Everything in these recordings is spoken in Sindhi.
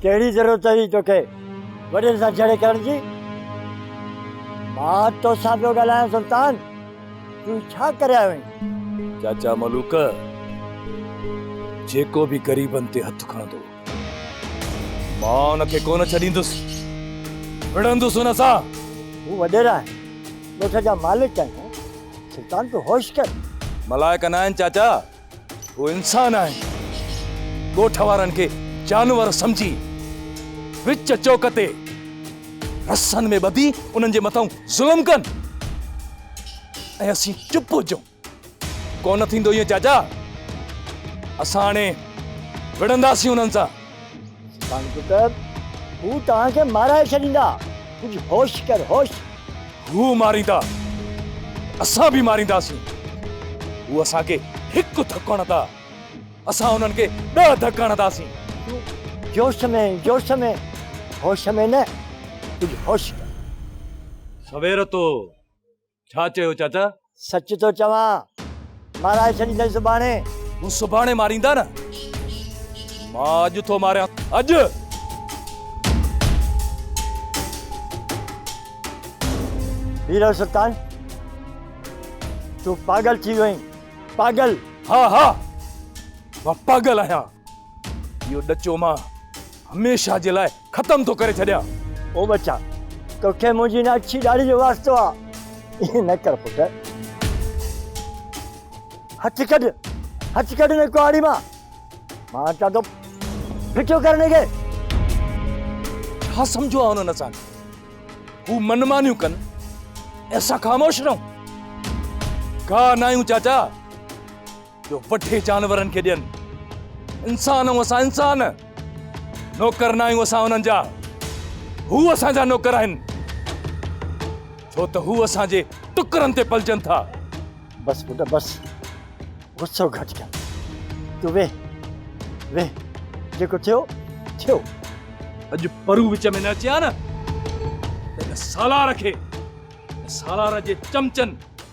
ڪهڙي ضرورت هئي توکي وڏين سان جهيڙي ڪرڻ جي؟ مان توسان پيو ڳالهايان سلطان، تون ڇا ڪري آيو آهين؟ چاچا ملوڪ جيڪو به غريبن تي هٿ کڻندو. مان ان کي ڪونه ڇڏيندس، وڙهندس ان سان. هو وڏيرا آهن، ڳوٺ جا مالڪ آهيون، سلطان تون هوش ڪر. ملائڪ نه آهن چاچا، هو انسان آهن، ڳوٺ وارن کي جانور سمجهي وچ چوڪ تي رسن ۾ ٻڌي انهن جي مٿان ظلم ڪن ۽ اسين چپ هجون. ڪو نه ٿيندو ائين چاچا اسان هاڻي وڙهنداسين انهن سان. ڪانپوٽر هو توهان کي مارائي ڇڏيندا ڪجهه هوش ڪر هوش. هو ماريندا اسان به مارينداسين هو اسان کي هڪ ڌڪ هڻندا اسان انهن کي ڏهه ڌڪ هڻنداسين. تون جوش ۾ جوش ۾ هوش ۾ نه ڪجهه هوش ڪر. سويرتو ڇا چيو چاچا؟ سچ ٿو چوان. مارائي ڇڏيندين سڀاڻي. هو سڀاڻي ماريندا نه. مان اڄ ٿو ماريان. اڄ! هيرو سلطان تون پاڳل ٿي ويو آهين. پاڳل! ها ها مان پاڳل آهيان. اهو ڏچو مان هميشه جي لاء ختم ٿو ڪري ڇڏيان. او ٻچا، توکي منهنجي هن اڇي ڏاڙهي جو واسطو آ. ائين نه ڪر پٽ. هٿ ڪڍ، هٿ ڪڍ هن ڪهاڙي مان. مان چوان ٿو ڦٽو ڪر هن کي. ڇا سمجهيو آ هنن اسان کي؟ هو من مانيون ڪن ۽ اسان خاموش رهون؟ ڪا نه آهيون چاچا. جو وڍي جانورن کي ڏين. انسان آهيون اسان انسان. نوڪر ناهيون اسان انهن جا. هو اسان جا نوڪر آهن. ڇو ته هو اسان جي ٽڪرن تي پلجن ٿا. بس پٽ بس. غصو گهٽ ڪر. تون ويهه. ويهه. جيڪو ٿيو ٿيو. اڄ پرو وچ ۾ نه اچي ها نه ته ان سالار کي سالار جي چمچن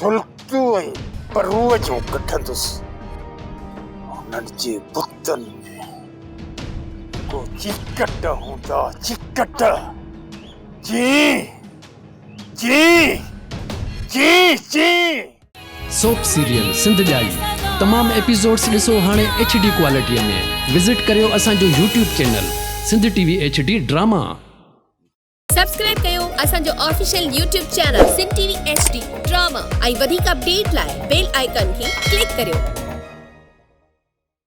سلڪيون ۽ پروء جون ڪڍندس، انهن جي بتن ۾ ڪو چيڪٽ هوندا، چيڪٽ، چي، چي، چي، چي. سوپ سيريل سنڌ ڄائي تمام ايپيسوڊس ڏسو هاڻي ايڇ ڊي ڪوالٽي ۾ وزٽ ڪريو اسان جو YouTube channel Sindh T V H D drama. Subscribe ڪيو اسان جو official YouTube channel Sindh T V H D drama ۽ وڌيڪ اپڊيٽ لاء بيل آئيڪان کي ڪلڪ ڪريو.